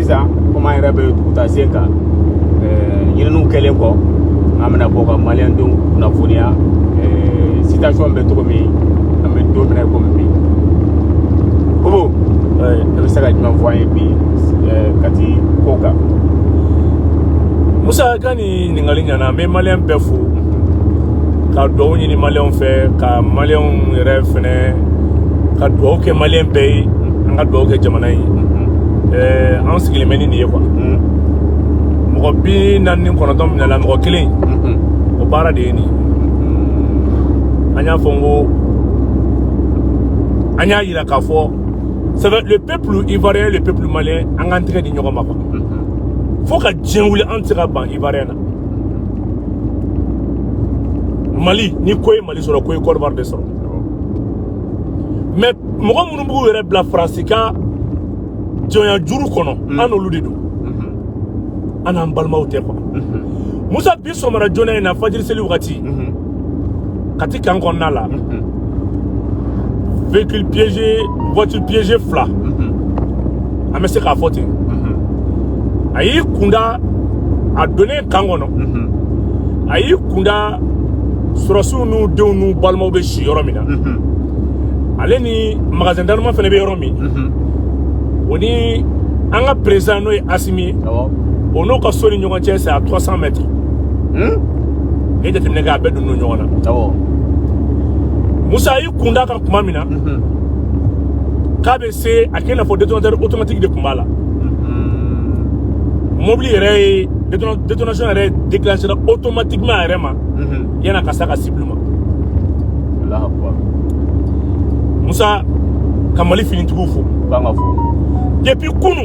sisan komi an yɛrɛ bɛ duguta sen kan ɲininiw kɛlen kɔ an bɛna bɔ ka maliyɛndenw kunnafoniya situation bɛ cogo min an bɛ don min na komi bi kobo e bɛ se ka jumɛn fɔ an ye bi kati ko kan musa ka ɲininkali ɲana n bɛ maliyɛn bɛɛ fo ka dugawu ɲini maliyɛnw fɛ ka maliyɛnw yɛrɛ fɛnɛ ka dugawu kɛ maliyɛn bɛɛ ye an ka dugawu kɛ jamana ye ɛɛ an sigilen bɛ ni nin ye quoi mɔgɔ bi naani ni kɔnɔntɔn minɛla mɔgɔ kelen o baara de ye nin an y'a fɔ n ko an y'a yira k'a fɔ le peuple ivoirien le peuple malien an k'an tɛgɛ di ɲɔgɔn ma quoi fo ka diɲɛ wuli an tɛ se ka ban ivoirien na mali ni ko ye mali sɔrɔ ko ye côte d'ivoire de sɔrɔ mais mɔgɔ minnu b'u yɛrɛ bila faransi ka jɔnya juru kɔnɔ mm. an n'olu de don mm-hmm. an n'an balimaw tɛ quoi mm-hmm. musa bi sɔgɔmada joona in na fajiri seli wagati mm-hmm. kati kan kɔnɔna la mhm. véhicule piégé voiture piégée fila mhm. an bɛ se k'a fɔ ten mhm. a y'i kunda a donnen kan kɔnɔ a y'i kunda sɔrɔdasiw n'u denw n'u balimaw bɛ si yɔrɔ min na ale ni magasin d'armement fɛnɛ bɛ yɔrɔ min o ni an ka président n'o ye asimi ye o n'o ka so ni ɲɔgɔn cɛ c'est à 300 mètres n'i ye jateminɛ kɛ a bɛɛ donnen don ɲɔgɔn na awɔ musa y'i kun da kan kuma min na mhm. k'a bɛ se a kɛ i n'a fɔ détonateur automatique de tun b'a la mhm. mobili yɛrɛ ye détonation yɛrɛ déclenché automatiquement a yɛrɛ ma mhm. yan'a ka s'a ka cible ma musa ka mali finitigiw fo depuis kunu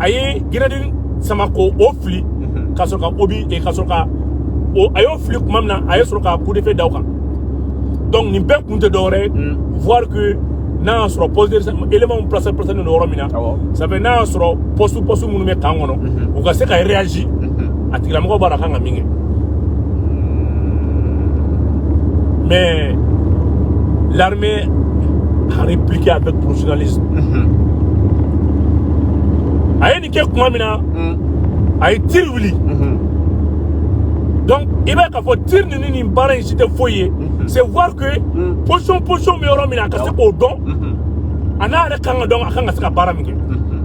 a ye grenade in sama k'o fili mhm. ka sɔrɔ ka obus eh, ka sɔrɔ ka a y'o fili kuma min na a ye sɔrɔ ka coup de feu da o kan donc nin bɛɛ kun tɛ dɔwɛrɛ ye mm. voir que n'a y'a sɔrɔ poste élément placé placélen don yɔrɔ min na ça fait n'a y'a sɔrɔ poste poste minnu bɛ kan kɔnɔ mhm. u ka se ka réagir mhm. a tigilamɔgɔ b'a la a kan ka min kɛ mais l'armée a répliqué avec professionnalisme a ye nin kɛ kuma min na a ye tiri wuli donc i b'a ye k'a fɔ tiri ninnu nin baara in si tɛ foyi ye c'est voir que position position bɛ yɔrɔ min na a ka se k'o dɔn a n'a yɛrɛ kan ka dɔn a kan ka se ka baara min kɛ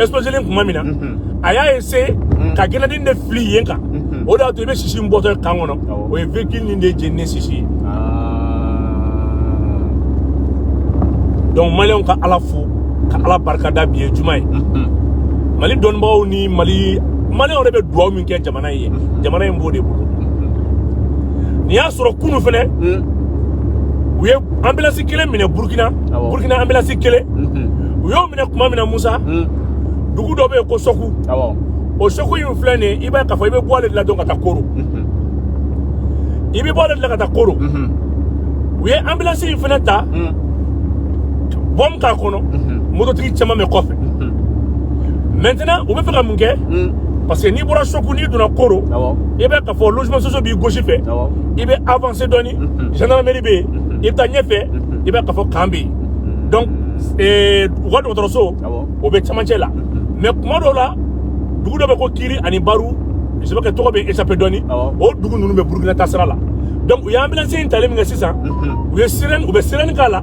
explosion nin kuma min na a y'a essayer ka grenade in de fili yen kan o de y'a to i bɛ sisi in bɔtɔ ye camp kɔnɔ o ye véhicule nin de jeninen sisi ye donc maliyɛnw ka ala fo ka ala barikada bi ye juma ye mali dɔnnibagaw ni maliyɛnw yɛrɛ bɛ duwawu min kɛ jamana in ye jamana in b'o de bolo nin y'a sɔrɔ kunu fɛnɛ u ye ambulance kelen minɛ burkina burkina ambulance kelen u y'o minɛ kuma min na musa dugu dɔ bɛ yen ko sɔku o sɔku in filɛ nin ye i b'a ye k'a fɔ i bɛ bɔ ale de la dɔn ka taa koro i bɛ bɔ ale de la ka taa koro u ye ambulance in fana ta bɔmu k'a kɔnɔ mototigi caman bɛ kɔfɛ maintenant u bɛ fɛ ka mun kɛ parce que n'i bɔra sɔku n'i donna koro i bɛ k'a fɔ logement sociaux b'i gauche fɛ i bɛ avancer dɔɔni gendarmerie bɛ yen i bɛ taa ɲɛfɛ i bɛ k'a fɔ camp bɛ yen donc ee, u ka dɔgɔtɔrɔso Awɔ. o bɛ cɛmancɛ la mais kuma dɔw la dugu dɔ bɛ ko kiri ani baru je sais pas que tɔgɔ bɛ échappé dɔɔni Awɔ. o dugu ninnu bɛ burukina taasira la donc u ye ambulance in talen min kɛ sisan u ye sirɛni u bɛ sirɛni k'a la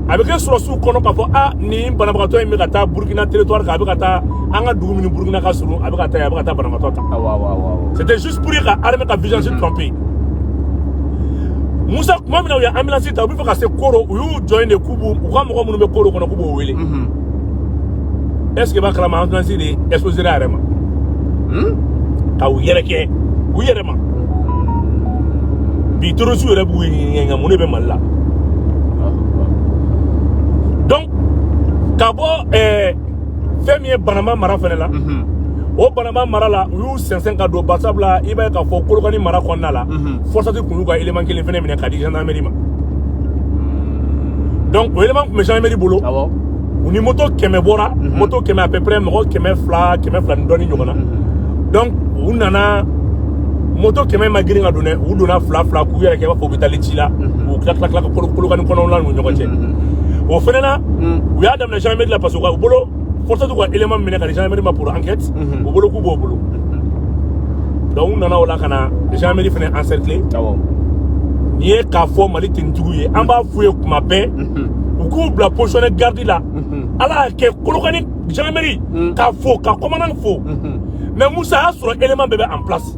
a bɛ kɛ sɔrɔdasiw kɔnɔ k'a fɔ a ni banabagatɔ in bɛ ka taa burukina territoire kan a bɛ ka taa an ka dugu minnu burukina ka surun a bɛ ka taa yen a bɛ ka taa banabagatɔ ta Awɔ, awɔ, awɔ, awɔ. C'était juste pour ka armée ka vigilance tromper. Moussa, kuma min na u ye ambulance ta u bɛ fɛ ka se koro u y'u jɔ yen de k'u b'u u ka mɔgɔ minnu bɛ koro kɔnɔ k'u b'o wele est ce que b'a kalama ambulance de explosé a yɛrɛ ma ka u yɛrɛkɛ u yɛrɛ ma bi terrorisiw yɛrɛ b'u ɲininka mun de bɛ mali la donc ka bɔ ɛɛ fɛn min ye banama mara fɛnɛ la o banama mara la u y'u sɛnsɛn ka don barisabula i b'a ye k'a fɔ kolokani mara kɔnɔna la FORSAT kun y'u ka élément kelen fɛnɛ minɛ k'a di gendarmerie ma donc o élément kun bɛ gendarmerie bolo awɔ u ni moto kɛmɛ bɔra mhm. moto kɛmɛ à peu près mɔgɔ kɛmɛ fila kɛmɛ fila ni dɔɔni ɲɔgɔn na mhm. donc u nana moto kɛmɛ ma girin ka don dɛ u donna fila fila k'u yɛrɛ kɛ i b'a fɔ u bɛ taa ci la mhm. u tila tila tila ka kolokani kɔnɔna la n'u ɲɔgɔn cɛ o fɛnɛ na u y'a daminɛ gendarmerie la parce que u ka u bolo FORSAT y'u ka élément minɛ k'a di gendarmerie ma pour enquête mhm. u bolo k'u b'o bolo mhm. donc u nana o la ka na gendarmerie fana encercler nin ye k'a fɔ mali tenitigiw ye an b'a f'u ye kuma bɛɛ mhm. u k'u bila position de garde la ala y'a kɛ kolokani gendarmerie k'a fo ka commandant fo mais musa y'a sɔrɔ élément bɛɛ bɛ en place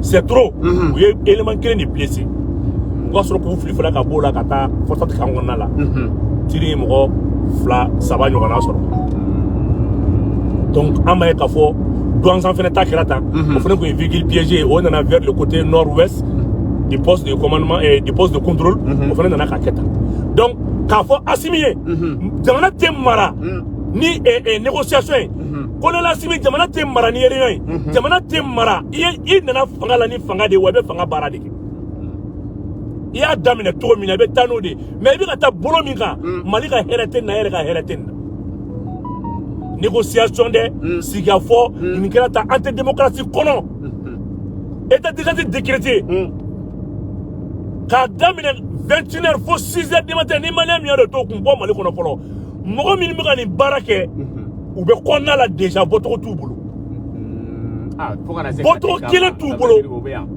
c'est trop u ye élément kelen de blessé u ka sɔrɔ k'u fili fana ka b'o la ka taa forsat camp kɔnɔna la tiri ye mɔgɔ fila saba ɲɔgɔnna sɔrɔ donc an b'a ye k'a fɔ douentza fana ta kɛra tan o fana tun ye véhicule piégé ye o nana vers le côté nord ouest du poste de commandement et du poste de contrôle o fana nana k'a kɛ tan donc k'a fɔ asimi ye jamana tɛ mara ni négociation ye colonel asimi jamana tɛ mara ni réunion ye mhm. jamana tɛ mara i nana fanga la ni fanga de ye wa i bɛ fanga baara de kɛ i y'a daminɛ cogo min na i bɛ taa n'o de ye mais i bɛ ka taa bolo min kan mm. mali ka hɛrɛ tɛ nin na e yɛrɛ ka hɛrɛ tɛ nin na négociation dɛ mm. sigikafɔ mm. nin kɛra tan an tɛ démocratie kɔnɔ état d'urgence décrété k'a daminɛ 21 heures fo 6 heures du matin ni maliyɛn min y'a dɔn t'o kun bɔ mali kɔnɔ fɔlɔ mɔgɔ minnu bɛ ka nin baara kɛ u bɛ kɔnɔna la déjà bɔcogo t'u bolo bɔcogo kelen t'u bolo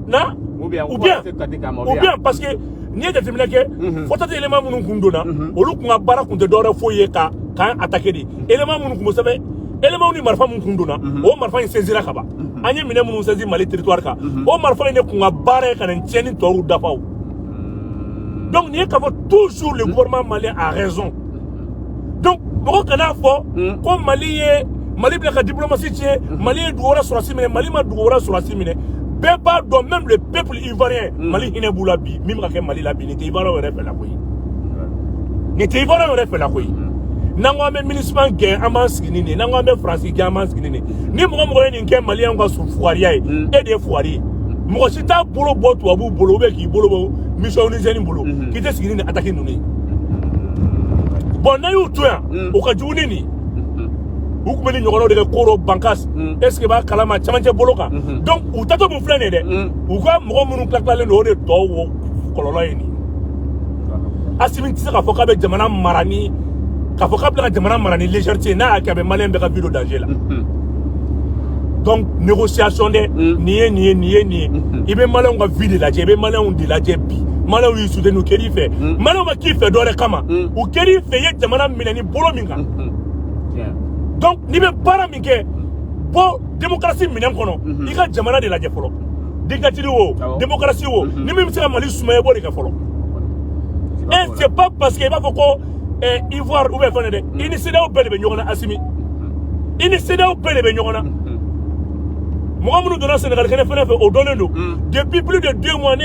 na ou bien ou bien parce que n'i ye jateminɛ kɛ forsat élément minnu kun donna olu kun ka baara kun tɛ dɔwɛrɛ foyi ye k'an attaquer de élément minnu kun bɛ sɛbɛn élément ni marifa minnu kun donna o marifa in saisira ka ban an ye minɛ minnu saisi mali territoire kan o marifa in de kun ka baara ye ka nin tiɲɛni tɔw dafa o donc nin ye k'a fɔ toujours le gouvernement malien a raison donc mɔgɔ kana fɔ hmm. ko mali bɛ ka diplomasi tiɲɛ hmm. mali ye dugu wɛrɛ sɔrɔsi minɛ mali ma dugu wɛrɛ sɔrɔsi minɛ bɛɛ b'a dɔn même le peuple ivoirien hmm. mali hinɛ b'u la bi min bɛ ka kɛ mali la bi nin tɛ ivoiriyɛnw yɛrɛ fɛla ko ye nin tɛ ivoiriyɛnw yɛrɛ fɛla ko ye n'an ko an bɛ minusma gɛn an b'an sigi ni nin ye n'an ko an bɛ faransi gɛn an b'an sigi ni nin ye ni mɔgɔ mɔgɔ ye nin kɛ maliyɛnw ka fugariya ye e de ye fugari ye mɔgɔ si t'a bolo bɔ tubabuw bolo ou bien k'i bolo bɔ mission onusienne bolo k'i tɛ sigi ni nin ataki ninnu ye bɔn n'a y'u to yan o ka jugu ni nin u tun bɛ nin ɲɔgɔnnaw de kɛ koro bankas est ce que b'a kalama camancɛ bolo kan donc u taatɔ min filɛ nin ye dɛ u ka mɔgɔ minnu tilatilalen don o de tɔw wo kɔlɔlɔ ye nin asimi tɛ se k'a fɔ k'a bɛ jamana mara ni k'a fɔ k'a bɛ ka jamana mara ni légèreté n'a y'a kɛ a bɛ maliyɛn bɛɛ ka vie don danger la donc négociation dɛ nin ye nin ye nin ye nin ye i bɛ maliyɛnw ka vie de lajɛ i bɛ maliyɛnw de lajɛ bi maliyɛnw y'i soutenu u kɛr'i fɛ maliyɛnw ma k'i fɛ dɔ wɛrɛ kama u kɛr'i fɛ i ye jamana minɛ ni bolo min kan donc n'i bɛ baara min kɛ bɔ démocratie minɛn kɔnɔ i ka jamana de lajɛ fɔlɔ dictature wo démocratie wo ni min bɛ se ka mali sumaya i b'o de kɛ fɔlɔ et c'est pas parce que i b'a fɔ ko eh, ivoire ou bien fɛn dɛ i ni cedeao bɛɛ de bɛ ɲɔgɔn na asimi i ni cedeao bɛɛ de bɛ ɲɔgɔn na mɔgɔ minnu donna sɛnɛgali kɛnɛ fɛnɛ fɛ o dɔnnen don depuis plus de deux mois ne